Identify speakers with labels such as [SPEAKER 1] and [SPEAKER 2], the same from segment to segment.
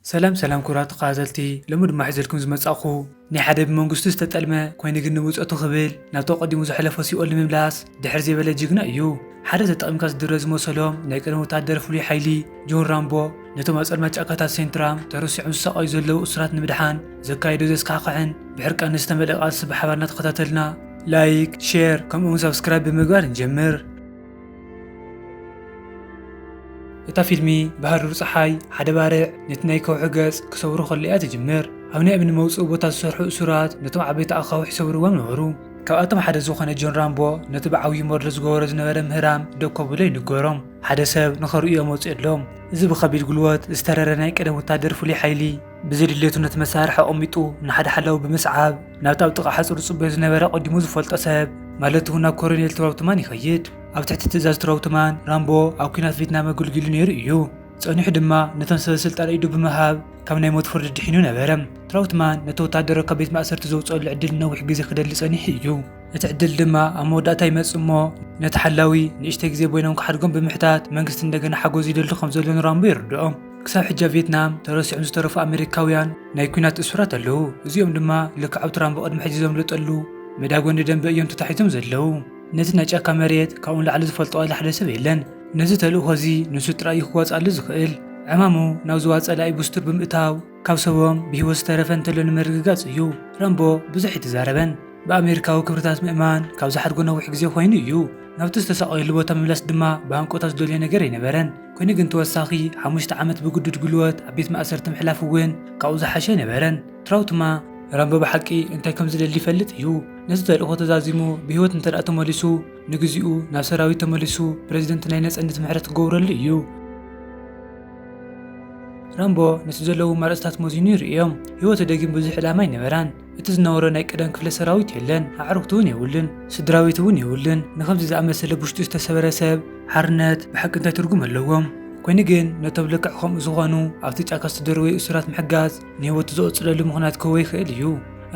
[SPEAKER 1] ሰላም ሰላም ክብራት ተከታተልቲ ሎሚ ድማ ሒዘልኩም ዝመጻኩ ናይ ሓደ ብመንግስቱ ዝተጠልመ ኮይኑ ግን ንብጾቱ ክብል ናብቲ ኣቀዲሙ ዝሐለፎ ሲኦል ንምምላስ ድሕር ዘይበለ ጅግና እዩ ሐደ ተጠቂምካ ዝድረ ዝመሰሎም ናይ ቀደም ወታደር ፍሉይ ሐይሊ ጆን ራምቦ ነቶም ኣብ ጸልማት ጫካታት ሴንትራም ተረሲዖም ዝሳቀዩ ዘለዉ እሱራት ንምድሓን ዘካየዶ ዘስካሕክሕን ብሕርቃነ ዝተመልኣ ቃልሲ ብሐባር እናተከታተልና ላይክ ሼር ከምኡ ውን ሳብስክራይብ ብምግባር ንጀምር። እታ ፊልሚ ብሃሩር ጸሓይ ሓደ ባርዕ ነቲ ናይ ከውሒ ገጽ ክሰብሩ ከሎ እያ ትጅምር። ኣብ ናይ እምኒ መውጽኢ ቦታ ዝሰርሑ እሱራት ነቶም ዓበይቲ ኣኻውሕ ይሰብርዎም ነበሩ። ካብኣቶም ሓደ ዝኾነ ጆን ራምቦ ነቲ ብዓብዩ ሞርዶ ዝገበሮ ዝነበረ ምህራም ደው ከብሎ ይንገሮም። ሓደ ሰብ ንኸርእዮ መጺኡ ኣሎ። እዚ ብኸቢድ ጉልበት ዝተረረ ናይ ቀደም ወተሃደር ፍሉይ ሓይሊ፣ ብዘይድሌቱ ነቲ መሳርሒ ኣቐሚጡ ንሓደ ሓላዊ ብምስዓብ ናብቲ ኣብ ጥቓ ሓጹር ዝጽበዮ ዝነበረ ቀዲሙ ዝፈልጦ ሰብ ማለት እውን ናብ ኮሎኔል ትራውትማን ይኸይድ። ኣብ ትሕቲ ትእዛዝ ትራውትማን፣ ራምቦ ኣብ ኲናት ቪትናም ኣገልጊሉ ነይሩ እዩ። ጸኒሑ ድማ ነቶም ሰበስልጣን ኢዱ ብምሃብ ካብ ናይ ሞት ፍርዲ ድሒኑ ነበረ። ትራውትማን ነቲ ወተሃደሮ ካብ ቤት ማእሰርቲ ዘውጽኦሉ ዕድል ንነዊሕ ግዜ ክደሊ ጸኒሑ እዩ። እቲ ዕድል ድማ ኣብ መወዳእታ ይመጽእ እሞ ነቲ ሓላዊ ንእሽተይ ግዜ ቦይኖም ክሓድጎም ብምሕታት መንግስቲ እንደገና ሓገዙ ይደሊ ከም ዘሎ ንራምቦ የርድኦ። ክሳብ ሕጂ ኣብ ቪየትናም ተረሲዖም ዝተረፉ ኣመሪካውያን ናይ ኲናት እሱራት ኣለዉ፣ እዚኦም ድማ ልክዕ ኣብቲ ራምቦ ቅድሚ ሕጂ ዘምለጠሉ መዳጎኒ ደምበ እዮም ተታሒዞም ዘለዉ። ነቲ ናይ ጫካ መሬት ካብኡ ንላዕሊ ዝፈልጦ ዋላ ሓደ ሰብ የለን። ነዚ ተልእኾ እዚ ንሱ ጥራይ እዩ ክዋጽኣሉ ዝኽእል። ዕማሙ ናብ ዞባ ጸላኢ ብስቱር ብምእታው ካብ ሰቦም ብህይወት ዝተረፈ እንተሎ ንምርግጋጽ እዩ። ራምቦ ብዙሕ ኣይተዛረበን። ብኣመሪካዊ ክብርታት ምእማን ካብ ዝሓድጎ ነዊሕ ግዜ ኰይኑ እዩ። ናብቲ ዝተሳቐየሉ ቦታ ምምላስ ድማ ብሃንቀውታ ዝደልዮ ነገር ኣይነበረን። ኮይኑ ግን ተወሳኺ ሓሙሽተ ዓመት ብግዱድ ጉልበት ኣብ ቤት ማእሰርቲ ምሕላፍ እውን ካብኡ ዝሓሸ ኣይነበረን። ትራውትማ። ራምቦ ብሓቂ እንታይ ከም ዝደሊ ይፈልጥ እዩ። ነቲ ተልእኾ ተዛዚሙ ብህይወት እንተድኣ ተመሊሱ፣ ንግዚኡ ናብ ሰራዊት ተመሊሱ ፕረዚደንት ናይ ነጸነት ምሕረት ክገብረሉ እዩ። ራምቦ ነቲ ዘለዉ ኣማራጺታት መዚኑ ይርእዮም። ህይወቱ ደጊም ብዙሕ ዕላማ ኣይነበራን። እቲ ዝነበሮ ናይ ቀደም ክፍለ ሰራዊት የለን፣ ኣዕርኽቱ እውን የብሉን፣ ስድራቤቱ እውን የብሉን፣ ንኸምዚ ዝኣመሰለ ብውሽጡ ዝተሰበረ ሰብ ሓርነት ብሓቂ እንታይ ትርጉም ኣለዎም? ኮይኑ ግን ነቶም ልክዕ ከምኡ ዝኾኑ ኣብቲ ጫካ ዝተደርወዩ እሱራት ምሕጋዝ ንህይወቱ ዘቐጽለሉ ምኽንያት ክህቦ ይኽእል እዩ።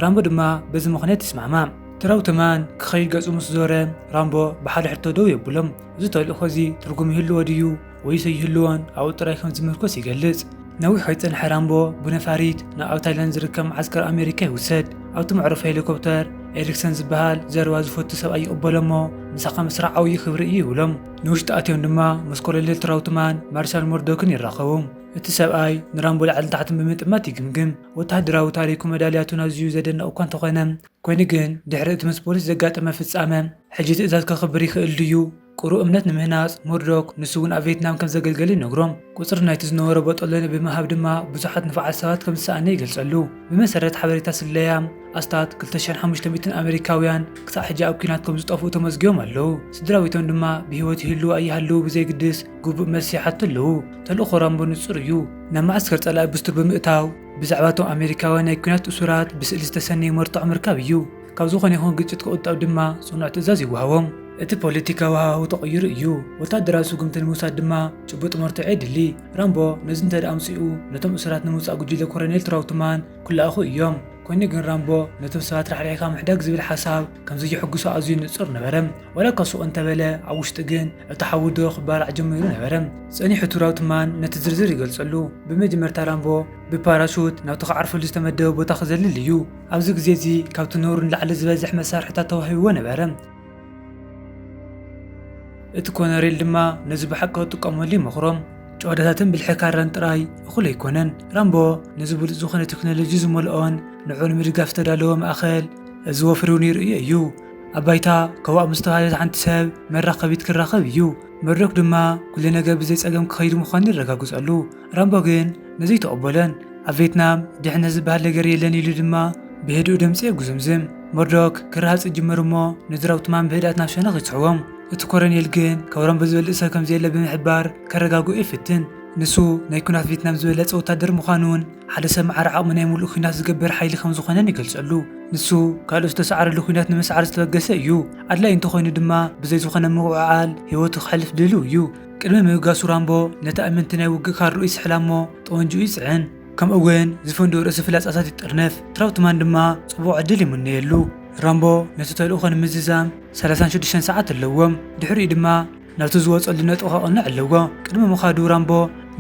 [SPEAKER 1] ራምቦ ድማ በዚ ምኽንያት ይስማዕማዕ። ትራው ተማን ክኸይድ ገጹ ምስ ዞረ ራምቦ ብሓደ ሕቶ ደው የብሎም፣ እዚ ተልእኾ እዚ ትርጉም ይህልዎ ድዩ? ወይ ዘይህልዎን ኣብኡ ጥራይ ከም ዝምርኮስ ይገልጽ። ነዊሕ ከይጸንሐ ራምቦ ብነፋሪት ናብ ኣብ ታይላንድ ዝርከብ መዓስከር ኣመሪካ ይውሰድ። ኣብቲ መዕረፎ ሄሊኮፕተር ኤሪክሰን ዝበሃል ዘረባ ዝፈቱ ሰብኣይ ይቕበሎ እሞ ምሳኻ ምስራሕ ዓብዪ ክብሪ እዩ ይብሎም። ንውሽጢ ኣትዮም ድማ ምስ ኮሎኔል ትራውትማን ማርሻል ሞርዶክን ይራኸቡ። እቲ ሰብኣይ ንራምቦ ላዕልን ታሕትን ብምጥማት ይግምግም። ወተሃደራዊ ታሪኩን መዳልያቱን ኣዝዩ ዘደንቕ እኳ እንተኾነ፣ ኮይኑ ግን ድሕሪ እቲ ምስ ፖሊስ ዘጋጠመ ፍጻመ ሕጂ ትእዛዝ ከኽብር ይኽእል ድዩ? ቅሩብ እምነት ንምህናጽ፣ ሙርዶክ ንሱ'ውን ኣብ ቬትናም ከም ዘገልገለ ይነግሮም። ቍጽሪ ናይቲ ዝነበሮ ቦጦሎኒ ብምሃብ ድማ ብዙሓት ንፉዓት ሰባት ከም ዝሰኣነ ይገልጸሉ። ብመሰረት ሓበሬታ ስለያ፣ ኣስታት ክልተ ሽሕን ሓሙሽተ ሚእትን ኣመሪካውያን ክሳዕ ሕጂ ኣብ ኲናት ከም ዝጠፍኡ ተመዝጊቦም ኣለዉ። ስድራቤቶም ድማ ብህይወት ይህልዉ ኣይሃልዉ ብዘየግድስ ግቡእ መልሲ ይሓቱ ኣለዉ። ተልእኾ ራምቦ ንጹር እዩ። ናብ መዓስከር ጸላኢ ብስቱር ብምእታው ብዛዕባ እቶም ኣመሪካውያን ናይ ኲናት እሱራት ብስእሊ ዝተሰነዩ መርትዖ ምርካብ እዩ። ካብ ዝኾነ ይኹን ግጭት ክቑጠብ ድማ ጽኑዕ ትእዛዝ ይወሃቦም። እቲ ፖለቲካዊ ሃዋህው ተቐይሩ እዩ። ወተሃደራዊ ስጉምቲ ንምውሳድ ድማ ጭቡጥ መርትዖ የድሊ። ራምቦ ነዚ እንተድኣ ኣምጺኡ፣ ነቶም እሱራት ንምውጻእ ጉጅለ ኮረኔል ትራውትማን ክለኣኹ እዮም። ኮይኑ ግን ራምቦ ነቶም ሰባት ራሕሪሕካ ምሕዳግ ዝብል ሓሳብ ከም ዘየሐጉሶ ኣዝዩ ንጹር ነበረ። ዋላ እኳ ሱቕ እንተበለ፣ ኣብ ውሽጢ ግን እቲ ሓዊ ዶብ ክባላዕ ጀሚሩ ነበረ። ጸኒሑ ትራውትማን ነቲ ዝርዝር ይገልጸሉ፣ ብመጀመርታ ራምቦ ብፓራሹት ናብቲ ክዓርፈሉ ዝተመደበ ቦታ ክዘልል እዩ። ኣብዚ ግዜ እዚ ካብቲ ነውሪ ንላዕሊ ዝበዝሕ መሳርሒታት ተዋሂብዎ ነበረ። እቲ ኮነሬል ድማ ነዚ ብሓቂ ክጥቀመሉ ይመኽሮም። ጭዋዳታትን ብልሒ ካራን ጥራይ እኹል ኣይኮነን። ራምቦ ነዚ ብሉጽ ዝኾነ ቴክኖሎጂ ዝመልኦን ንዕኡ ንምድጋፍ ዝተዳለወ ማእከል እዚ ወፍሪ እውን ይርእዮ እዩ። ኣብ ባይታ ከዋእ ምስ ተባህለት ሓንቲ ሰብ መራኸቢት ክራኸብ እዩ። መርዶክ ድማ ኩሉ ነገር ብዘይ ጸገም ክኸይድ ምዃኑ የረጋግጸሉ። ረምቦ ግን ነዙይ ተቐበለን። ኣብ ቬትናም ድሕነት ዝበሃል ነገር የለን ኢሉ ድማ ብህድኡ ድምፂ የጉዝምዝም። መርዶክ ክረሃፅ ይጅምር እሞ ንዝራውትማን ብህድኣት ናብ ሸነኽ ይስሕቦም። እቲ ኮረኔል ግን ካብ ረምቦ ዝበልፅ ሰብ ከምዘየለ ብምሕባር ከረጋግኦ ይፍትን። ንሱ ናይ ኩናት ቬትናም ዝበለፀ ወታደር ምዃኑን ሓደ ሰብ መዓር ዓቕሚ ናይ ሙሉእ ኩናት ዝገብር ሓይሊ ከምዝኾነን ይገልፀሉ። ንሱ ካልኦት ዝተሰዓርሉ ኩናት ንምስዓር ዝተበገሰ እዩ። ኣድላይ እንተኾይኑ ድማ ብዘይ ዝኾነ ምውዕዓል ህይወቱ ከሕልፍ ድልው እዩ። ቅድሚ ምብጋሱ ራምቦ ነቲ ኣመንቲ ናይ ውግእ ካርድኡ ይስሕላ እሞ ጠወንጅኡ ይጽዕን፣ ከምኡ'ውን ዝፈንድኡ ርእሲ ፍላጻታት ይጥርንፍ፣ ትራውትማን ድማ ጽቡቕ ዕድል ይምነየሉ። ራምቦ ነቲ ተልእኾ ንምዝዛም ሰላሳን ሽዱሽተን ሰዓት ኣለዎም፣ ድሕሪኡ ድማ ናብቲ ዝወጸሉ ነጥቢ ከቕንዕ ኣለዎ። ቅድሚ ምኻዱ ራምቦ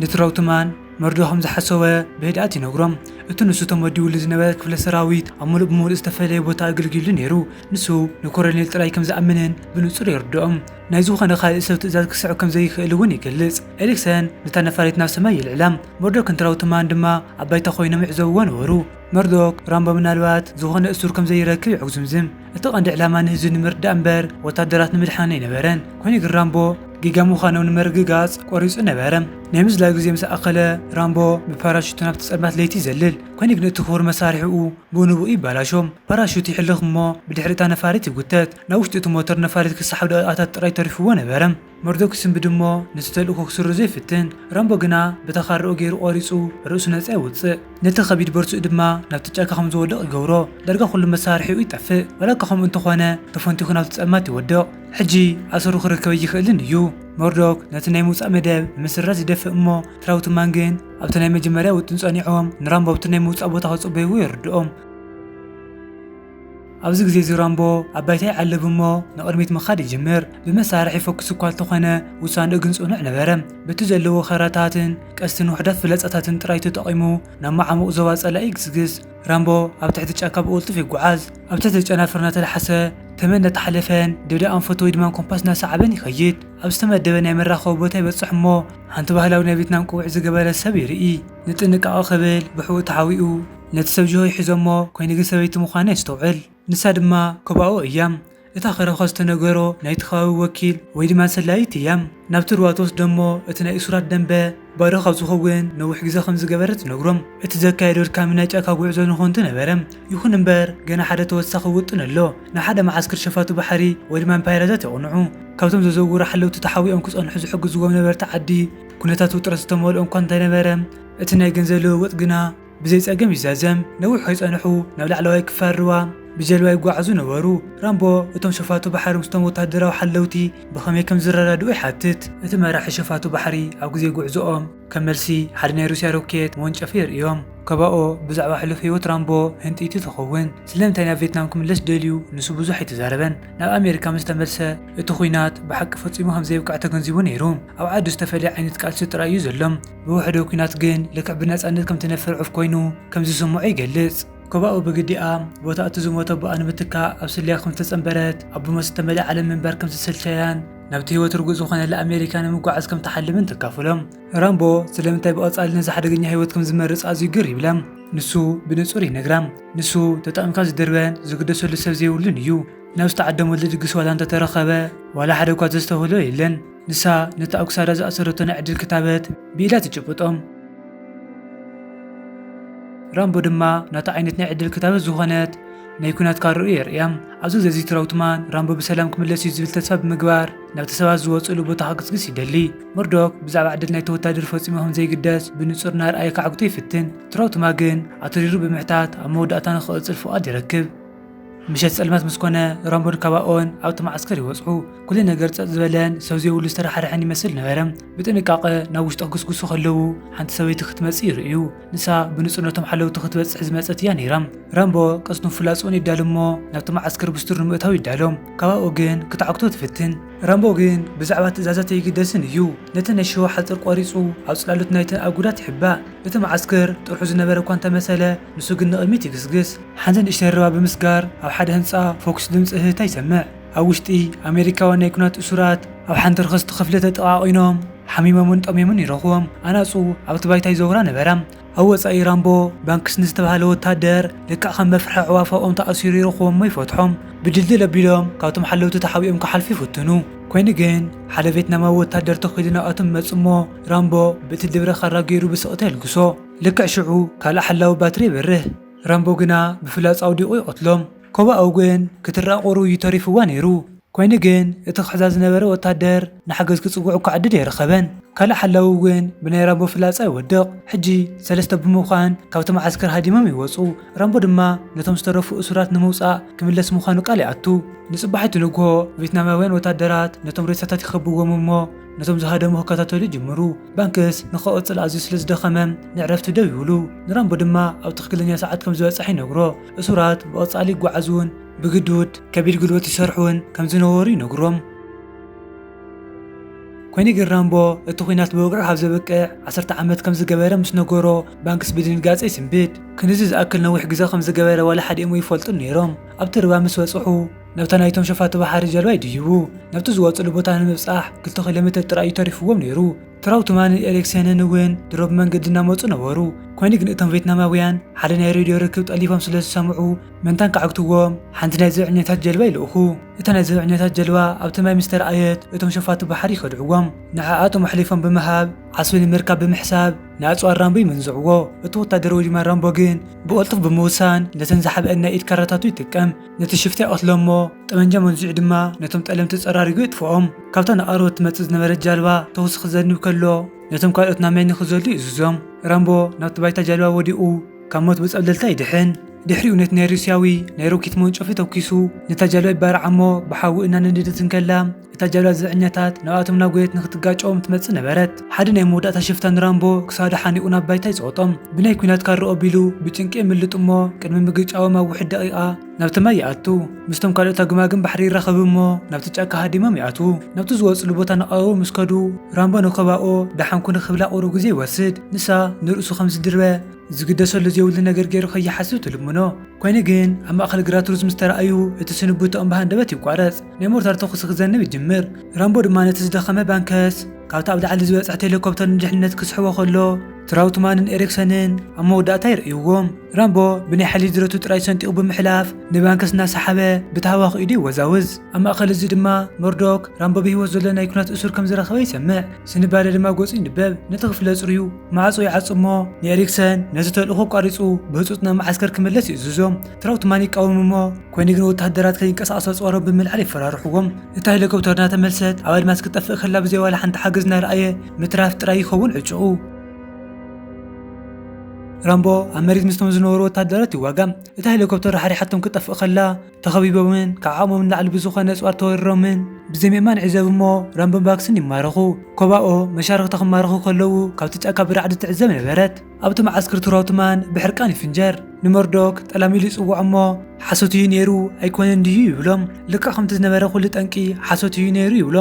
[SPEAKER 1] ንትራውትማን መርዶ ከም ዝሓሰወ ብህድኣት ይነግሮም፣ እቲ ንሱ ተመዲቡሉ ዝነበረ ክፍለ ሰራዊት ኣብ ምሉእ ብምሉእ ዝተፈለየ ቦታ ኣገልጊሉ ነይሩ፣ ንሱ ንኮረኔል ጥራይ ከም ዝኣምንን ብንጹር የርድኦም። ናይ ዝኾነ ካልእ ሰብ ትእዛዝ ክስዕብ ከም ዘይክእል እውን ይገልጽ። ኤሪክሰን ነታ ነፋሪት ናብ ሰማይ የልዕላ፣ መርዶክን ትራውትማን ድማ ኣብ ባይታ ኰይኖም ይዕዘብዎ ነበሩ። መርዶክ፣ ራምቦ ምናልባት ዝኾነ እሱር ከም ዘይረክብ የጕዝምዝም። እቲ ቀንዲ ዕላማ ንህዝቢ ንምርዳእ እምበር ወተሃደራት ንምድሓን ኣይነበረን። ኰይኑ ግን ራምቦ ጌጋ ምዃኖም ንምርግጋጽ ቈሪጹ ነበረ። ናይ ምዝላል ግዜ ምስ ኣኸለ፣ ራምቦ ብፓራሹቱ ናብቲ ጸልማት ለይቲ ይዘልል። ኰይኑ ግን እቲ ክቡር መሳርሒኡ ብንቡእ ይበላሾ። ፓራሹት ይሕልኽ እሞ ብድሕሪ እታ ነፋሪት ይጕተት። ናብ ውሽጢ እቲ ሞተር ነፋሪት ክሰሓብ ደቒቓታት ጥራይ ተሪፉዎ ነበረ። መርዶክ ይስንብድ እሞ ነቲ ተልእኮ ክስርዞ ይፍትን። ራምቦ ግና በታ ካራኡ ገይሩ ቆሪጹ ርእሱ ነጻ የውጽእ። ነቲ ከቢድ ቦርጭኡ ድማ ናብቲ ጫካ ከም ዝወድቕ ይገብሮ። ዳርጋ ኩሉ መሳርሒኡ ይጠፍእ። ዋላ'ኳ ከምኡ እንተኾነ ተፈንቲኹ ናብቲ ጸልማት ይወድቕ። ሕጂ ኣሰሩ ክርከብ ኣይክእልን እዩ። መርዶክ ነቲ ናይ ምውጻእ መደብ ንምስራዝ ይደፍእ እሞ ትራውትማን ግን ኣብቲ ናይ መጀመርያ ውጥን ጸኒዖም ንራምቦ ኣብቲ ናይ ምውጻእ ቦታ ክጽበይዎ የርድኦም። ኣብዚ ግዜ እዚ ራምቦ ኣብ ባይታ ይዓልብ እሞ ንቕድሚት ምኻድ ይጅምር። ብመሳርሒ ይፈኩስ እኳ እንተኾነ ውሳንኡ ግን ጽኑዕ ነበረ። በቲ ዘለዎ ኸራታትን ቀስትን ውሑዳት ፍለጻታትን ጥራይ ተጠቒሙ ናብ መዓሙቕ ዞባ ጸላኢ ይግስግስ። ራምቦ ኣብ ትሕቲ ጫካ ብቕልጡፍ ይጓዓዝ። ኣብ ትሕቲ ጨናፍር እናተላሕሰ፣ ተመን እናተሓለፈን ደደ ኣንፈቱ ወይ ድማ ኮምፓስ እናሰዓበን ይኸይድ። ኣብ ዝተመደበ ናይ መራኸቢ ቦታ ይበጽሕ እሞ ሓንቲ ባህላዊ ናይ ቬትናም ቆቢዕ ዝገበረት ሰብ ይርኢ። ንጥንቃቐ ክብል ብሕቡእ ተሓቢኡ፣ ነቲ ሰብ ጅሆ ይሕዞ'ሞ ኮይኑ ግን ሰበይቲ ምዃና የስተውዕል። ንሳ ድማ ኮባኦ እያ። እታ ከረኾ ዝተነገሮ ናይቲ ከባቢ ወኪል ወይ ድማ ሰላዪት እያ። ናብቲ ሩባ ትወስዶ'ሞ እቲ ናይ እሱራት ደምበ ባዶ ካብ ዝኸውን ነዊሕ ግዘ ከም ዝገበረ ትነግሮም። እቲ ዘካየዶ ኣድካሚ ናይ ጫካ ጉዕዞ ንኮንቱ ነበረ። ይኹን እምበር ገና ሓደ ተወሳኺ ውጥን ኣሎ። ንሓደ መዓስከር ሸፋቱ ባሕሪ ወይ ድማ እምፓይረታት የቕንዑ። ካብቶም ዘዘውሩ ሓለውቲ ተሓቢኦም ክጸንሑ ዝሕግዝዎም ነበርቲ ዓዲ ኩነታት ውጥረት ዝተመልኦ'ኳ እንተነበረ እቲ ናይ ገንዘብ ልውውጥ ግና ብዘይ ጸገም ይዛዘም ነዊሕ ከይጸንሑ ናብ ላዕለዋይ ክፋል ሩባ ብጀልባ ይጓዓዙ ነበሩ። ራምቦ እቶም ሸፋቱ ባሕሪ ምስቶም ወተሃደራዊ ሓለውቲ ብኸመይ ከም ዝረዳድኡ ይሓትት። እቲ መራሒ ሸፋቱ ባሕሪ ኣብ ግዜ ጉዕዞኦም ከም መልሲ ሓደ ናይ ሩስያ ሮኬት መወንጨፊ የርእዮም። ከባኦ ብዛዕባ ሕሉፍ ህይወት ራምቦ ህንጥይቲ ትኸውን። ስለምንታይ ናብ ቬትናም ክምለስ ደልዩ ንሱ ብዙሕ ኣይተዛረበን። ናብ ኣሜሪካ ምስ ተመልሰ እቲ ኲናት ብሓቂ ፈጺሙ ከም ዘይብቅዕ ተገንዚቡ ነይሩ። ኣብ ዓዱ ዝተፈልየ ዓይነት ቃልሲ ጥራይ እዩ ዘሎ። ብውሕደ ኲናት ግን ልክዕ ብነጻነት ከም ትነፍር ዑፍ ኮይኑ ከም ዝስምዖ ይገልጽ። ኮባኡ ብግዲኣ፣ ቦታ እቲ ዝሞተ ኣቦኣ ንምትካእ ኣብ ስለያ ከም ዝተጸንበረት፣ ኣብ ብሞት ዝተመልኣ ዓለም ምንባር ከም ዝሰልቸያን ናብቲ ህይወት ርጉእ ዝኾነላ ኣሜሪካ ንምጓዓዝ ከም ትሓልምን ተካፍሎም። ራምቦ ስለምንታይ ብቐጻሊ ነዚ ሓደገኛ ህይወት ከም ዝመርጽ ኣዝዩ ግር ይብላ። ንሱ ብንጹር ይነግራ፣ ንሱ ተጠቒምካ ዝድርበን ዝግደሰሉ ሰብ ዘይብሉን እዩ። ናብ ዝተዓደመሉ ድግስ ዋላ እንተ ተረኸበ፣ ዋላ ሓደ እኳ ዘስተውህሎ የለን። ንሳ ነቲ ኣብ ክሳዳ ዝኣሰረቶ ናይ ዕድል ክታበት ብኢዳ ትጭብጦም። ራምቦ ድማ ናታ ዓይነት ናይ ዕድል ክታበት ዝኾነት ናይ ኩናት ካርኡ የርእያም። ኣብዚ ግዜ እዚ ትራውትማን ራምቦ ብሰላም ክምለስ እዩ ዝብል ተስፋ ብምግባር ናብቲ ሰባት ዝወጽእሉ ቦታ ክግስግስ ይደሊ። መርዶክ ብዛዕባ ዕድል ናይቲ ወታደር ፈጺሙ ከም ዘይግደስ ብንጹር እናርኣየ ከዓግቶ ይፍትን። ትራውትማ ግን ኣትሪሩ ብምሕታት ኣብ መወዳእታ ንኽቕጽል ፍቓድ ይረክብ። ምሸት ጸልማት ምስ ኮነ፣ ራምቦን ካባኦን ኣብቲ መዓስከር ይወጽኡ። ኩሉ ነገር ጸጥ ዝበለን ሰብ ዘይብሉ ዝተራሓርሐን ይመስል ነበረ። ብጥንቃቐ ናብ ውሽጢ ክግስግሱ ከለዉ፣ ሓንቲ ሰበይቲ ክትመጽእ ይርእዩ። ንሳ ብንጹር ነቶም ሓለውቲ ክትበጽሕ ዝመጸት እያ ነይራ። ራምቦ ቀስቱን ፍላጻኡን የዳል'ሞ ናብቲ መዓስከር ብስቱር ንምእታው ይዳሎ። ካባኦ ግን ክትዓግቶ ትፍትን። ራምቦ ግን ብዛዕባ ትእዛዛት ኣይግደስን እዩ። ነቲ ናይ ሽዋ ሓጽር ቈሪጹ ኣብ ጽላሎት ናይቲ ኣጉዳት ይሕባእ። እቲ መዓስከር ጥርሑ ዝነበረ እኳ እንተመሰለ፣ ንሱ ግን ንቕድሚት ይግስግስ። ሓንቲ ንእሽተይ ርባ ብምስጋር ኣብ ሓደ ህንጻ ፎክስ ድምጺ እህህታ ይሰምዕ። ኣብ ውሽጢ፣ ኣመሪካውያን ናይ ኲናት እሱራት ኣብ ሓንቲ ርኽስቲ ክፍሊ ተጠቓቒኖም ሓሚሞምን ጠምዮምን ይረኽቦም። ኣናጹ ኣብቲ ባይታ ይዘውራ ነበራ። ኣብ ወጻኢ ራምቦ ባንክስ ንዝተባህለ ወተሃደር ልክዕ ከም መፍርሒ ኣዕዋፍ ኣብኦም ተኣሲሩ ይረኽቦም'ሞ ይፈትሖም። ብድልድል ኣቢሎም ካብቶም ሓለውቲ ተሓቢኦም ክሓልፉ ይፍትኑ። ኰይኑ ግን ሓደ ቬትናማዊ ወተሃደር ተኺሉ ናብኣቶም ይመጽእ'ሞ ራምቦ ብእቲ ድብረ ካራ ገይሩ ብስቕታ የልግሶ። ልክዕ ሽዑ ካልእ ሓላዊ ባትሪ የብርህ፣ ራምቦ ግና ብፍላጻ ኣውዲቑ ይቐትሎም። ኮቦ ኣውግእን ክትረኣ ቁሩ እዩ ተሪፉዋ ነይሩ። ኰይኑ ግን እቲ ክሕዛ ዝነበረ ወተሃደር ንሓገዝ ክጽውዕ እኳ ዕድል ኣይረኸበን። ካልእ ሓላዊ እውን ብናይ ራምቦ ፍላጻ ይወድቕ። ሕጂ ሰለስተ ብምዃን ካብቲ መዓስከር ሃዲሞም ይወጹ። ራምቦ ድማ ነቶም ዝተረፉ እሱራት ንምውጻእ ክምለስ ምዃኑ ቃል ይኣቱ። ንጽባሒቱ ንግሆ ቬትናማውያን ወተሃደራት ነቶም ሬሳታት ይኸብዎም እሞ፣ ነቶም ዝሃደሙ ክከታተሉ ይጅምሩ። ባንክስ ንክቕጽል ኣዝዩ ስለ ዝደኸመ ንዕረፍቲ ደው ይብሉ። ንራምቦ ድማ ኣብ ትኽክለኛ ሰዓት ከም ዝበጽሕ ይነግሮ። እሱራት ብቐጻሊ ይጓዓዙን ብግዱድ ከቢድ ጉልበት ይሰርሑን ከም ዝነበሩ ይነግሮም። ኮይኑ ግን ራምቦ እቲ ኲናት ብወግዒ ካብ ዘብቅዕ ዓሰርተ ዓመት ከም ዝገበረ ምስ ነገሮ ባንክስ ብድንጋጸ ይስንብድ። ክንዚ ዝኣክል ነዊሕ ግዘ ከም ዝገበረ ዋላ ሓዲኦም ኣይፈልጡን ነይሮም። ኣብቲ ርባ ምስ በጽሑ ነብታ ናይቶም ሸፋቱ ባሕሪ ጀልባ ይድይቡ። ነብቲ ዝወጽሉ ቦታ ንምብጻሕ ክልተ ኪሎ ሜተር ጥራይ እዩ ተሪፍዎም ነይሩ። ትራውትማንን ኤሪክሴንን እውን ድሮ ብመንገዲ እናመጹ ነበሩ። ኰይኑ ግን እቶም ቬትናማውያን ሓደ ናይ ሬድዮ ርክብ ጠሊፎም ስለ ዝሰምዑ፣ መታን ክዓግትዎም ሓንቲ ናይ ዘብዐኛታት ጀልባ ይልእኹ። እታ ናይ ዘብዐኛታት ጀልባ ኣብቲ ማይ ምስ ተራእየት፣ እቶም ሸፋቱ ባሕሪ ይኸድዕዎም። ንዓኣቶም ኣሕሊፎም ብምሃብ ዓስቢ ንምርካብ ብምሕሳብ ንኣጽዋር ራምቦ ይምንዝዕዎ። እቲ ወተሃደር ወጅማ ራምቦ ግን ብቕልጡፍ ብምውሳን ነተን ዝሓብኣን ናይ ኢድ ካራታቱ ይጥቀም። ነቲ ሽፍታ ይቐትሎ እሞ ጠበንጃ መንዚዑ ድማ ነቶም ጠለምቲ ጸራሪጉ የጥፍኦም። ካብታ ንቓርቦት ትመጽእ ዝነበረት ጃልባ ተኹሲ ክዘንብ ከሎ ነቶም ካልኦት ናብ ማይ ንኽዘሉ ይእዝዞም። ራምቦ ናብቲ ባይታ ጃልባ ወዲቑ ካብ ሞት ብጸብለልታ ይድሕን። ድሕሪኡ ነቲ ናይ ሩስያዊ ናይ ሮኬት መወንጨፊ ተኲሱ ነታ ጃልባ ይባርዓ እሞ ብሓዊ እናነደደት እንከላ፣ እታ ጃብላ ዝዕኛታት ናብኣቶም ናጎየት ንክትጋጨዎም ትመጽእ ነበረት። ሓደ ናይ መወዳእታ ሽፍታ ንራምቦ ክሳዱ ሓኒቑ ናብ ባይታ ይጸወጦም። ብናይ ኲናት ካርኦ ኣቢሉ ብጭንቂ የምልጥ እሞ ቅድሚ ምግጫዎም ኣብ ውሕድ ደቒቓ ናብቲ ማይ ይኣቱ። ምስቶም ካልኦት ኣግማግም ባሕሪ ይራኸብ እሞ ናብቲ ጫካ ሃዲሞም ይኣትዉ። ናብቲ ዝወጽሉ ቦታ ናቐረቡ ምስ ከዱ ራምቦ ንከባኦ ደሓን ኩኑ ክብላ ቁሩብ ግዜ ይወስድ። ንሳ ንርእሱ ከም ዝድርበ ዝግደሰሉ ዘይብሉ ነገር ገይሩ ከይሓስብ ትልምኖ። ኮይኑ ግን ኣብ ማእከል ግራት ሩዝ ምስ ተራኣዩ እቲ ስንብትኦም ብሃንደበት ይቋረጽ። ናይ ሞርታር ተኹሲ ክዘንብ ይጅምር። ራምቦ ድማ ነቲ ዝደኸመ ባንከስ ካብታ ኣብ ላዕሊ ዝበጽሐት ሄሊኮፕተር ንድሕነት ክስሕቦ ከሎ ትራውትማንን ኤሪክሰንን ኣብ መወዳእታ ይርእይዎም። ራምቦ ብናይ ሓይሊ ድረቱ ጥራይ ሰንጢቑ ብምሕላፍ ንባንከስ እናሰሓበ ብታህዋኺ ኢዱ ይወዛውዝ። ኣብ ማእከል እዚ ድማ መርዶክ ራምቦ ብህይወት ዘሎ ናይ ኲናት እሱር ከም ዝረኸበ ይሰምዕ። ስንባደ ድማ ገጹ ይንበብ። ነቲ ክፍሊ ኣጽርዩ ማዕጾ ይዓጹ እሞ ንኤሪክሰን ነቲ ተልእኾ ኣቋሪጹ ብህጹጽ ናብ መዓስከር ክምለስ ይእዝዞ። ትራውትማን ይቃወም እሞ ኮይኑ ግን ወተሃደራት ከይንቀሳቐሱ ኣፅዋሮም ብምልዓል የፈራርሕዎም። እታ ሄሊኮፕተር እናተመልሰት ኣብ ኣድማስ ክትጠፍእ ከላ ብዘይ ዋላ ሓንቲ ሓገዝ እናረኣየ ምትራፍ ጥራይ ይኸውን ዕጭኡ። ራምቦ ኣብ መሬት ምስቶም ዝነበሩ ወተሃደራት ይዋጋም። እታ ሄሊኮፕተር ራሕሪሓቶም ክትጠፍእ ከላ ተኸቢቦምን ካብ ዓቕሞም ንላዕሊ ብዝኾነ ኣፅዋር ተወሪሮምን ብዘይ ምእማን ዕዘብ እሞ ራምቦን ባክስን ይማረኹ። ኮባኦ መሻርኽታ ክማረኹ ከለዉ ካብቲ ጫካ ብራዕዲ ትዕዘብ ነበረት። ኣብቲ መዓስክር ትሮትማን ብሕርቃን ይፍንጀር። ንመርዶክ ጠላም ኢሉ ይጽውዖ እሞ ሓሶት እዩ ነይሩ ኣይኮነን ድዩ ይብሎም። ልክዕ ከምቲ ዝነበረ ኩሉ ጠንቂ ሓሶት እዩ ነይሩ ይብሎ።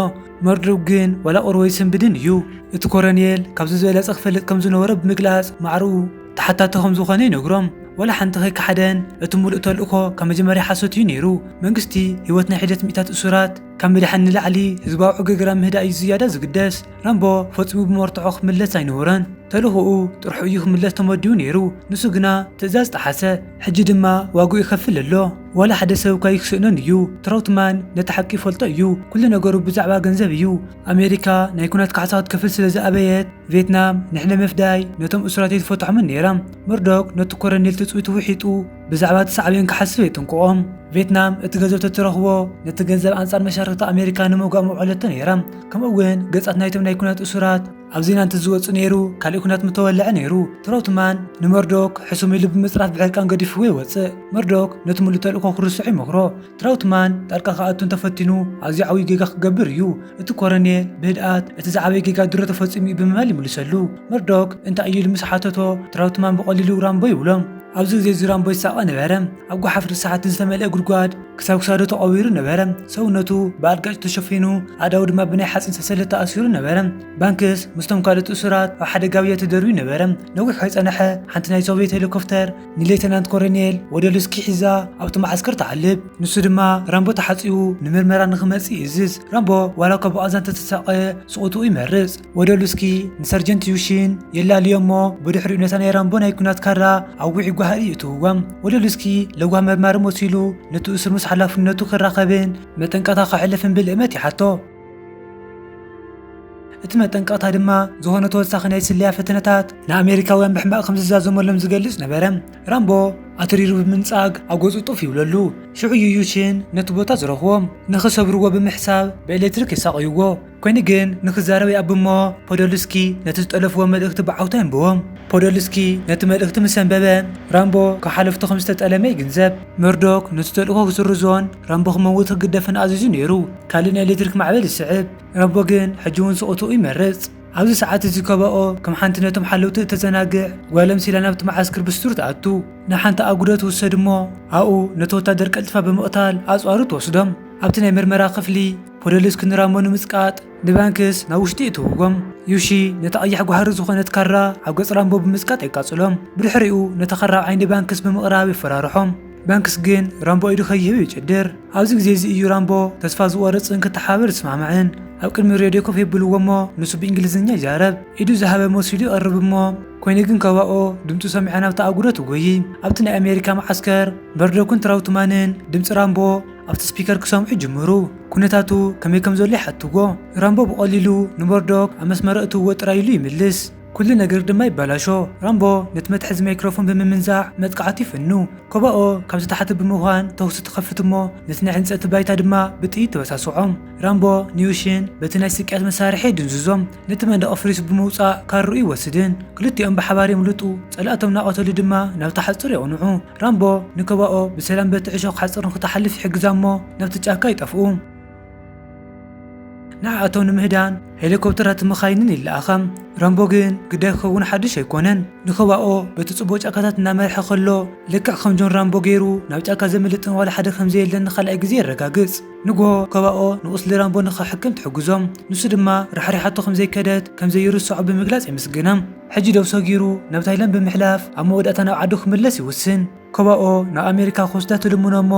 [SPEAKER 1] መርዶክ ግን ዋላ ቁርቦ ኣይስንብድን እዩ። እቲ ኮረኔል ካብዚ ዝበለጸ ክፈልጥ ከም ዝነበሮ ብምግላጽ ማዕርኡ ተሓታቲ ከም ዝኾነ ይነግሮም። ዋላ ሓንቲ ከይከሓደን እቲ ምሉእ ተልእኮ ካብ መጀመርያ ሓሶት እዩ ነይሩ። መንግስቲ ህይወት ናይ ሒደት ሚእታት እሱራት፣ ካብ ምድሓን ንላዕሊ ህዝባዊ ዕግርግራ ምህዳእ እዩ ዝያዳ ዝግደስ። ራምቦ ፈጺሙ ብመርትዖ ክምለስ ኣይነበሮን። ተልእኾኡ ጥርሑ እዩ ክምለስ ተመዲቡ ነይሩ። ንሱ ግና ትእዛዝ ጠሓሰ። ሕጂ ድማ ዋግኡ ይኸፍል ኣሎ። ዋላ ሓደ ሰብ እኳ ኣይክስእኖን እዩ። ትራውትማን ነቲ ሓቂ ይፈልጦ እዩ። ኩሉ ነገሩ ብዛዕባ ገንዘብ እዩ። ኣሜሪካ ናይ ኲናት ካሕሳ ክትከፍል ስለ ዝኣበየት፣ ቬትናም ንሕነ ምፍዳይ ነቶም እሱራት ኣይትፈትሖምን ነይራ። መርዶክ ነቲ ኮረኔል ትጽቢቱ ውሒጡ። ብዛዕባ እቲ ሳዕቤን ክሓስቡ የጠንቅቖም። ቬትናም እቲ ገንዘብ ተትረኽቦ ነቲ ገንዘብ ኣንጻር መሻርኽቲ ኣሜሪካ ንምውጋእ ምውዕለቶ ነይራ። ከምኡ እውን ገጻት ናይቶም ናይ ኩናት እሱራት ኣብ ዜና እንተዝወጽእ ነይሩ ካልእ ኩናት ምተወልዐ ነይሩ። ትራውትማን ንመርዶክ ሕሱም ኢሉ ብምጽራፍ ብሕርቃን ገዲፍዎ ይወጽእ። መርዶክ ነቲ ምሉእ ተልእኮ ክርስዖ ይመኽሮ። ትራውትማን ጣልቃ ክኣቱ እንተፈቲኑ ኣዝዩ ዓብዩ ጌጋ ክገብር እዩ። እቲ ኮረኔል ብህድኣት እቲ ዝዓበየ ጌጋ ድሮ ተፈጺሙ እዩ ብምባል ይምልሰሉ። መርዶክ እንታይ እዩ ኢሉ ምስ ሓተቶ ትራውትማን ብቐሊሉ ራምቦ ይብሎም። ኣብዚ ግዜ እዚ ራምቦ ይሳቐ ነበረ። ኣብ ጓሓፍ ርስሓትን ዝተመልኤ ጉድጓድ ክሳብ ክሳዱ ተቐቢሩ ነበረ። ሰውነቱ ብኣልጋጭ ተሸፊኑ ኣእዳዉ ድማ ብናይ ሓጺን ሰንሰለት ተኣሲሩ ነበረ። ባንክስ ምስቶም ካልኦት እሱራት ኣብ ሓደ ጋብያ ተደርብዩ ነበረ። ነዊሕ ከይጸነሐ ሓንቲ ናይ ሶቭየት ሄሊኮፍተር ንሌተናንት ኮረኔል ወደሉስኪ ሒዛ ኣብቲ መዓስከር ትዓልብ። ንሱ ድማ ራምቦ ተሓጺቡ ንምርመራ ንኽመጽእ ይእዝዝ። ራምቦ ዋላ እኳ ብቓዛ እንተተሳቐ ስቕትኡ ይመርጽ። ወደሉስኪ ንሰርጀንት ዩሺን የላልዮ'ሞ ብድሕሪኡ ነታ ናይ ራምቦ ናይ ኲናት ካራ ኣብ ውዑይ ጓሂ ይእትውዎም። ወደሉስኪ ለዋህ መርማሪ መሲሉ ነቲ እሱር ምስ ሓላፍነቱ ክራኸብን መጠንቀቕታ ከሕልፍን ብልእመት ይሓቶ። እቲ መጠንቀቕታ ድማ ዝኾነ ተወሳኺ ናይ ስለያ ፈተነታት ንኣሜሪካውያን ብሕማቕ ከም ዝዛዘመሎም ዝገልጽ ነበረ። ራምቦ ኣትሪሩ ብምንጻግ ኣብ ገጹ ጡፍ ይብለሉ። ሽዑ ዩዩሽን ነቲ ቦታ ዝረኽቦ። ንኽሰብርዎ ብምሕሳብ ብኤሌክትሪክ የሳቕይዎ። ኮይኑ ግን ንኽዛረብ ይኣብ እሞ ፖዶልስኪ ነቲ ዝጠለፍዎ መልእኽቲ ብዓውታ የንብቦ። ፖዶልስኪ ነቲ መልእኽቲ ምስ ኣንበበ ራምቦ ካብ ሓለፍቱ ከም ዝተጠለመ ይግንዘብ። መርዶክ ነቲ ተልእኾ ክስርዞን ራምቦ ክመውት ክግደፍን ኣዚዙ ነይሩ። ካልእ ናይ ኤሌክትሪክ ማዕበል ይስዕብ። ራምቦ ግን ሕጂ እውን ስቕታኡ ይመርጽ። ኣብዚ ሰዓት እዚ ከባኦ ከም ሓንቲ ነቶም ሓለውቲ እተዘናግዕ ጓል ኣምሲላ ናብቲ መዓስከር ብስቱር ትኣቱ። ናብ ሓንቲ ኣጕዶ ትውሰድ እሞ ኣብኡ ነቲ ወታደር ቀልጢፋ ብምቕታል ኣጽዋሩ ትወስዶም። ኣብቲ ናይ መርመራ ክፍሊ ፖደልስኪ ንራምቦ ንምጽቃጥ፣ ንባንክስ ናብ ውሽጢ እትውጎም። ዩሺ ነታ ቀያሕ ጓህሪ ዝኾነት ካራ ኣብ ገጽ ራምቦ ብምጽቃጥ የቃጽሎም። ብድሕሪኡ ነታ ካራ ኣብ ዓይኒ ባንክስ ብምቕራብ የፈራርሖም። ባንክስ ግን ራምቦ ኢዱ ከይህብ ይጭድር። ኣብዚ ግዜ እዚ እዩ ራምቦ ተስፋ ዝቖርጽን ክተሓባበር ዝስማዕማዕን። ኣብ ቅድሚ ሬድዮ ኮፍ የብልዎ እሞ ንሱ ብእንግሊዝኛ ይዛረብ። ኢዱ ዝሃበ መሲሉ ይቐርብ እሞ ኮይኑ ግን ከባኦ ድምጹ ሰሚዓ ናብታ ኣጉዶ ትጎዪ። ኣብቲ ናይ ኣሜሪካ መዓስከር መርዶክን ትራውትማንን ድምጺ ራምቦ። ኣብቲ ስፒከር ክሰምዑ ይጅምሩ። ኵነታቱ ከመይ ከም ዘሎ ይሓትዎ። ራምቦ ብቐሊሉ ንመርዶክ ኣብ መስመር ኣእትውዎ ጥራይ ኢሉ ይምልስ። ኵሉ ነገር ድማ ይበላሾ። ራምቦ ነቲ መትሓዚ ማይክሮፎን ብምምንዛዕ መጥቃዕቱ ይፍኑ። ኮባኦ ካብ ዝተሓተ ብምዃን ተዅሲ ትኸፍት እሞ ነቲ ናይ ዕንጸቲ ባይታ ድማ ብጥይት ተበሳስዖም። ራምቦ ንዩሽን በቲ ናይ ስቅያት መሳርሒ የድንዝዞም። ነቲ መንደቕ ኣፍሪሱ ብምውጻእ ካርኡ ይወስድን ክልቲኦም ብሓባር የምልጡ። ጸላእቶም እናቐተሉ ድማ ናብታ ሓጹር የቕንዑ። ራምቦ ንከባኦ ብሰላም በቲ ዕሾኽ ሓጹር ንኽትሓልፍ ይሕግዛ እሞ ናብቲ ጫካ ይጠፍኡ። ንዓኣቶም ንምህዳን ሄሊኮፕተራትን መኻይንን ይለኣኻ። ራምቦ ግን ግዳይ ክኸውን ሓድሽ ኣይኮነን። ንከባኦ በቲ ጽቡቕ ጫካታት እናመርሐ ከሎ ልክዕ ከም ጆን ራምቦ ገይሩ ናብ ጫካ ዘምልጥን ዋላ ሓደ ከም ዘየለን ንኻልኣይ ግዜ የረጋግጽ። ንግሆ ከባኦ ንቑስሊ ራምቦ ንኽሕክም ትሕግዞ። ንሱ ድማ ራሕሪሓቶ ከም ዘይከደት ከም ዘይርስዖ ብምግላጽ የመስግና። ሕጂ ደው ሰጊሩ ናብ ታይላንድ ብምሕላፍ ኣብ መወዳእታ ናብ ዓዱ ክምለስ ይውስን። ኮባኦ ናብ ኣሜሪካ ክወስዳ ትልምኖ እሞ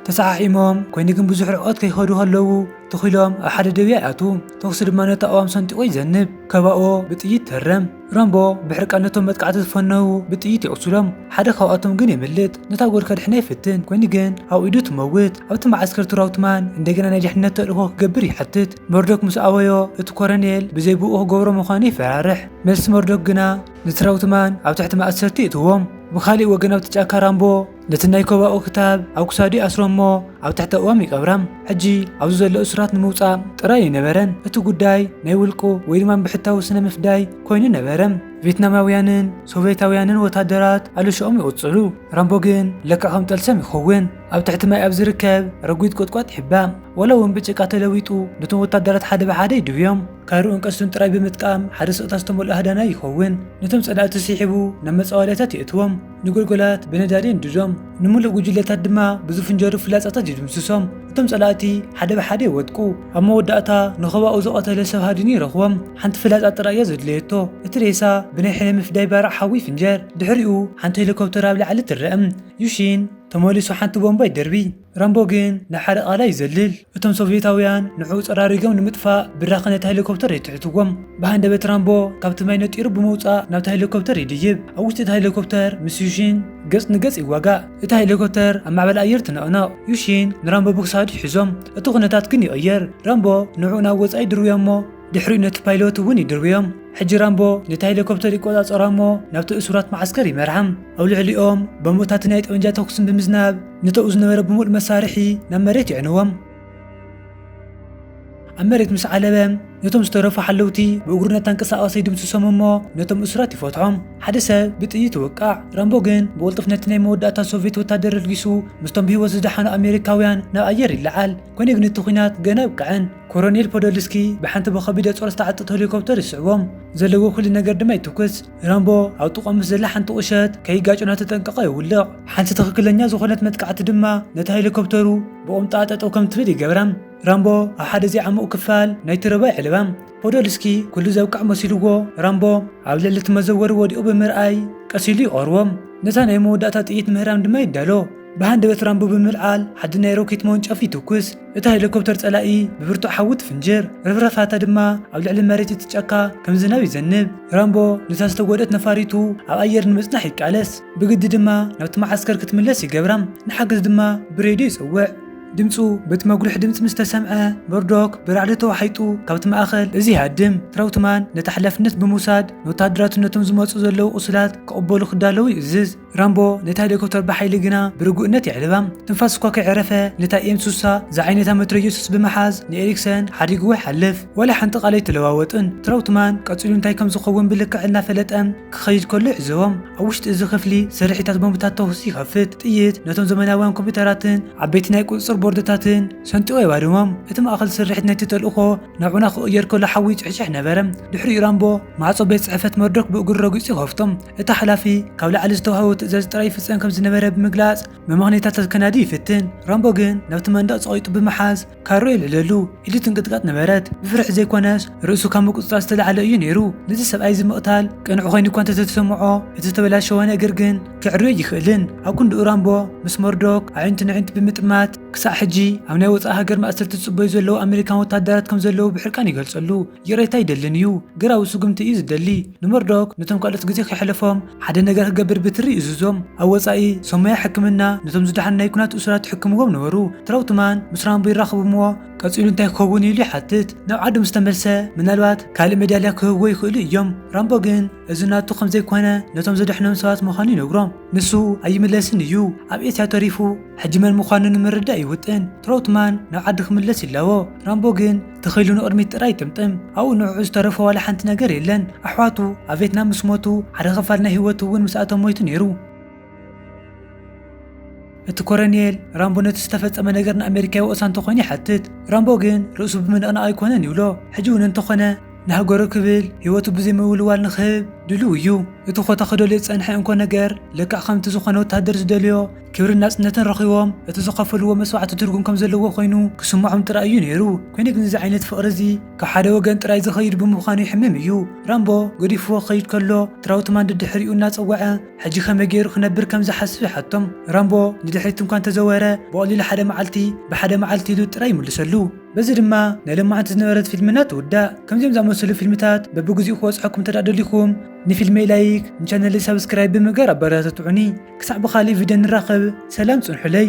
[SPEAKER 1] ተሰሓሒሞም፣ ኮይኑ ግን ብዙሕ ርሕቐት ከይኸዱ ከለዉ ትኽ ኢሎም ኣብ ሓደ ደብያ ይኣትዉ። ተኹሲ ድማ ነቲ ኣእዋም ሰንጢቑ ይዘንብ። ኮባኦ ብጥይት ይህረም። ራምቦ ብሕርቃን ነቶም መጥቃዕቲ ዝፈነዉ ብጥይት የቑስሎም። ሓደ ካብኣቶም ግን የምልጥ። ነታ ጓል ከድሕና ይፍትን፣ ኮይኑ ግን ኣብ ኢዱ ትመውት። ኣብቲ መዓስከር ትራውትማን እንደገና ናይ ድሕነት ተልእኾ ክገብር ይሓትት። መርዶክ ምስ ኣበዮ እቲ ኮረኔል ብዘይ ብእኡ ክገብሮ ምዃኑ ይፈራርሕ። መልሲ መርዶክ ግና ንትራውትማን ኣብ ትሕቲ ማእሰርቲ የእትዎም። ብኻሊእ ወገን ኣብቲ ጫካ ራምቦ ነቲ ናይ ኮባኡ ክታብ ኣብ ክሳዱ ይኣስሮ እሞ ኣብ ትሕቲ ኣእዋም ይቀብራም። ሕጂ ኣብዚ ዘሎ እሱራት ንምውጻእ ጥራይ ኣይነበረን እቲ ጉዳይ ናይ ውልቁ ወይ ድማ ብሕታዊ ስነ ምፍዳይ ኮይኑ ነበረ። ቬትናማውያንን ሶቬታውያንን ወታደራት ኣለሽኦም ይቕጽሉ። ራምቦ ግን ለክዕ ከም ጠልሰም ይኸውን። ኣብ ትሕቲ ማይ ኣብ ዝርከብ ረጒድ ቁጥቋጥ ይሕባእ፣ ዋላ እውን ብጭቃ ተለዊጡ፣ ነቶም ወታደራት ሓደ ብሓደ ይድብዮም። ካርኡን ቀስቱን ጥራይ ብምጥቃም ሓደ ስቕታ ዝተመልኦ ሃዳናይ ይኸውን። ነቶም ጸላእቲ ስሒቡ ናብ መጻወድያታት የእትዎም፣ ንጎልጎላት ብነዳዲ የንድዶም፣ ንምሉእ ጕጅለታት ድማ ብዝፍንጀሩ ፍላጻታት ይድምስሶም። እቶም ጸላእቲ ሓደ ብሓደ ይወድቁ። ኣብ መወዳእታ ንኸባኡ ዝቐተለ ሰብ ሃዲኑ ይረኽቦም። ሓንቲ ፍላጻ ጥራይ እያ ዘድለየቶ፣ እቲ ሬሳ ብናይ ሕነ ምፍዳይ ባርዕ ሓዊ ይፍንጀር። ድሕሪኡ ሓንቲ ሄሊኮፕተር ኣብ ላዕሊ ትረኣ። ዩሺን። ተመሊሱ ሓንቲ ቦምባ ይደርቢ። ራምቦ ግን ናብ ሓደ ቃላይ ይዘልል። እቶም ሶቭየታውያን ንዕኡ ጸራሪጎም ንምጥፋእ ብራኸ ነታ ሄሊኮፕተር የትሕትዎም። ብሃንደበት ራምቦ ካብቲ ማይ ነጢሩ ብምውጻእ ናብታ ሄሊኮፕተር ይድይብ። ኣብ ውሽጢ እታ ሄሊኮፕተር ምስ ዩሺን ገጽ ንገጽ ይዋጋእ። እታ ሄሊኮፕተር ኣብ ማዕበል ኣየር ትነቕነቕ። ዩሺን ንራምቦ ብክሳዱ ይሕዞም። እቲ ኩነታት ግን ይቕየር። ራምቦ ንዕኡ ናብ ወጻኢ ይድርብዮ'ሞ፣ ድሕሪኡ ነቲ ፓይሎት እውን ይድርብዮም። ሕጂ ራምቦ ነቲ ሄሊኮፕተር ይቆጻጸራ እሞ ናብቲ እሱራት መዓስከር ይመርሓም። ኣብ ልዕሊኦም ቦምብታትን ናይ ጠበንጃ ተኹስን ብምዝናብ ንተኡ ዝነበረ ብምሉእ መሳርሒ ናብ መሬት የዕንዎም። ኣብ መሬት ምስ ዓለበ ነቶም ዝተረፉ ሓለውቲ ብእግሩ እናተንቀሳቐሰ ይድምስሶም እሞ ነቶም እሱራት ይፈትሖም። ሓደ ሰብ ብጥይት ይወቃዕ። ራምቦ ግን ብቕልጡፍ ነቲ ናይ መወዳእታ ሶቭየት ወታደር ኣልጊሱ ምስቶም ብህይወት ዝደሓኑ ኣሜሪካውያን ናብ ኣየር ይለዓል። ኰነ ግን እቲ ኲናት ገና ኣይብቅዐን። ኮረኔል ፖዶልስኪ ብሓንቲ ብከቢደ ጾር ዝተዓጠት ሆሊኮፕተር ይስዕቦም፣ ዘለዎ ኩሉ ነገር ድማ ይትኩስ። ራምቦ ኣብ ጥቕኦም ምስ ዘላ ሓንቲ ቁሸት ከይጋጩ እናተጠንቀቐ የውልቕ። ሓንቲ ትኽክለኛ ዝኾነት መጥቃዕቲ ድማ ነታ ሄሊኮፕተሩ ብቑምጣ ጠጠው ከም ትብል ይገብራ። ራምቦ ኣብ ሓደ ዘይዓሙቕ ክፋል ናይቲ ሩባ የዕልባ። ፖዶልስኪ ኩሉ ዘብቅዐ መሲልዎ ራምቦ ኣብ ልዕሊ እቲ መዘወሪ ወዲቑ ብምርኣይ ቀስ ኢሉ ይቐርቦ። ነታ ናይ መወዳእታ ጥይት ምህራም ድማ ይዳሎ። ብሃንደበት ራምቦ ብምልዓል ሓዲ ናይ ሮኬት መወንጨፊ ይትኩስ። እታ ሄሊኮፕተር ጸላኢ ብብርቱዕ ሓዊ ትፍንጅር፣ ርፍራፋታ ድማ ኣብ ልዕሊ መሬት እቲ ጫካ ከም ዝናብ ይዘንብ። ራምቦ ነታ ዝተጎድኣት ነፋሪቱ ኣብ ኣየር ንምጽናሕ ይቃለስ፣ ብግዲ ድማ ናብቲ መዓስከር ክትምለስ ይገብራ፣ ንሓገዝ ድማ ብሬድዮ ይጸውዕ። ድምጹ በቲ መጉልሒ ድምጺ ምስ ተሰምዐ፣ መርዶክ ብራዕዲ ተዋሒጡ ካብቲ ማእከል እዚ ይሃድም። ትራውትማን ነቲ ሓላፍነት ብምውሳድ ንወተሃደራቱ ነቶም ዝመጹ ዘለዉ ቁስላት ክቕበሉ ክዳለዉ ይእዝዝ። ራምቦ ነታ ሄሊኮፕተር ብሓይሊ ግና ብርጉእነት የዕልባ። ትንፋስ እኳ ከይዐረፈ ነታ ኤም ስሳ ዝዓይነታ መትረየሱስ ብምሓዝ ንኤሪክሰን ሓዲግዎ ይሓልፍ። ዋላ ሓንቲ ቃል ኣይተለዋወጡን። ትራውትማን ቀጺሉ እንታይ ከም ዝኸውን ብልክዕ እናፈለጠ ክኸይድ ከሎ ይዕዘቦ። ኣብ ውሽጢ እዚ ክፍሊ ስርሒታት ቦምብታት ተኹሲ ይኸፍት። ጥይት ነቶም ዘመናውያን ኮምፒዩተራትን ዓበይቲ ናይ ቁጽጽር ቦርድታትን ሰንጢቑ የባርሞም። እቲ ማእከል ስርሒት ናይቲ ተልእኾ ንዑና ክቕየር ከሎ ሓዊ ይጭሕጭሕ ነበረ። ድሕሪኡ ራምቦ ማዕጾ ቤት ጽሕፈት መርዶክ ብእግሩ ረጊጹ ይኸፍቶ። እቲ ሓላፊ ካብ ላዕሊ ዝተዋህቦ ትእዛዝ ጥራይ ይፍጸም ከም ዝነበረ ብምግላጽ መመኽነይታታት ከናዲ ይፍትን። ራምቦ ግን ናብቲ መንደቕ ጸቒጡ ብምሓዝ ካራኡ የልዕለሉ። ኢዱ ትንቅጥቀጥ ነበረት። ብፍርሒ ዘይኮነስ ርእሱ ካብ ምቁጽጻር ዝተላዕለ እዩ ነይሩ። ነዚ ሰብኣይ እዚ ምቕታል ቅኑዕ ኮይኑ እኳ እንተተሰምዖ እቲ ዝተበላሸወ ነገር ግን ከዕርዮ ኣይክእልን። ኣብ ክንድኡ ራምቦ ምስ መርዶክ ኣዒንቲ ነዒንቲ ብምጥማት፣ ክሳዕ ሕጂ ኣብ ናይ ወጻኢ ሃገር ማእሰርቲ ዝጽበዩ ዘለዉ ኣመሪካን ወተሃደራት ከም ዘለዉ ብሕርቃን ይገልጸሉ። ይቕሬታ ኣይደልን እዩ። ግራዊ ስጉምቲ እዩ ዝደሊ። ንመርዶክ ነቶም ካልኦት ግዜ ከይሐለፎም ሐደ ነገር ክገብር ብትሪ ይእዝዞም። ኣብ ወጻኢ ሰም ሞያ ሕክምና ነቶም ዝደሓኑ ናይ ኩናት እሱራት ይሕክምዎም ነበሩ። ትራውትማን ምስ ራምቦ ይራኸቡ እሞ ቀጺሉ እንታይ ክኸውን እዩ ኢሉ ይሓትት። ናብ ዓዱ ምስ ተመልሰ ምናልባት ካልእ መዳልያ ክህብዎ ይኽእሉ እዮም። ራምቦ ግን እዚ ናቱ ከም ዘይኮነ ነቶም ዘደሕኖም ሰባት ምዃኑ ይነግሮም። ንሱ ኣይምለስን እዩ። ኣብ ኤስያ ተሪፉ። ሕጂ መን ምዃኑ ንምርዳእ ይውጥን። ትሮውትማን ናብ ዓዲ ክምለስ ይላቦ፣ ራምቦ ግን እቲ ኽኢሉ ንቕድሚት ጥራይ ይጥምጥም። ኣብኡ ንዕዑ ዝተረፎ ዋላ ሓንቲ ነገር የለን። ኣሕዋቱ ኣብ ቬትናም ምስ ሞቱ፣ ሓደ ኽፋል ናይ ህይወቱ እውን ምስኣቶም ሞይቱ ነይሩ። እቲ ኮረኔል፣ ራምቦ ነቲ ዝተፈጸመ ነገር ንኣመሪካ ይወቕሳ እንተ ዀይኑ ይሓትት። ራምቦ ግን ርእሱ ብምንቕናቕ ኣይኰነን ይብሎ። ሕጂ እውን እንተ ዀነ ንሃገሩ ክብል ህይወቱ ብዘይ ምውልዋል ንኽህብ ድሉው እዩ። እቲ ዀታ ኽደልዮ ዝጸንሐ እንኮ ነገር ለክዕ ኸምቲ ዝዀነ ወተሃደር ዝደልዮ፣ ክብርን ናጽነትን ረኺቦም እቲ ዝኸፈልዎ መስዋዕቲ ትርጉም ከም ዘለዎ ኮይኑ ክስምዖም ጥራይ እዩ ነይሩ። ኮይኑ ግን እዚ ዓይነት ፍቕሪ እዚ ካብ ሓደ ወገን ጥራይ ዝኸይድ ብምዃኑ የሕምም እዩ። ራምቦ ገዲፍዎ ክኸይድ ከሎ ትራውትማን ደድሕሪኡ እናጸወዐ ሕጂ ከመይ ገይሩ ክነብር ከም ዝሓስብ ይሓቶም። ራምቦ ንድሕሪት እንኳ እንተዘወረ ብቐሊሉ ሓደ መዓልቲ ብሓደ መዓልቲ ኢሉ ጥራይ ይምልሰሉ። በዚ ድማ ናይ ሎማዓንቲ ዝነበረት ፊልምና ትውዳእ። ከምዚኦም ዝኣመሰሉ ፊልምታት በብግዚኡ ክበጽሐኩም እንተድኣ ደሊኹም፣ ንፊልመይ ላይክ ንቻነለይ ሳብስክራይብ ብምግባር ኣበረታትዑኒ ክሳዕ ብካሊእ ቪድዮ ንራኸብ ሰላም ጽንሑለይ።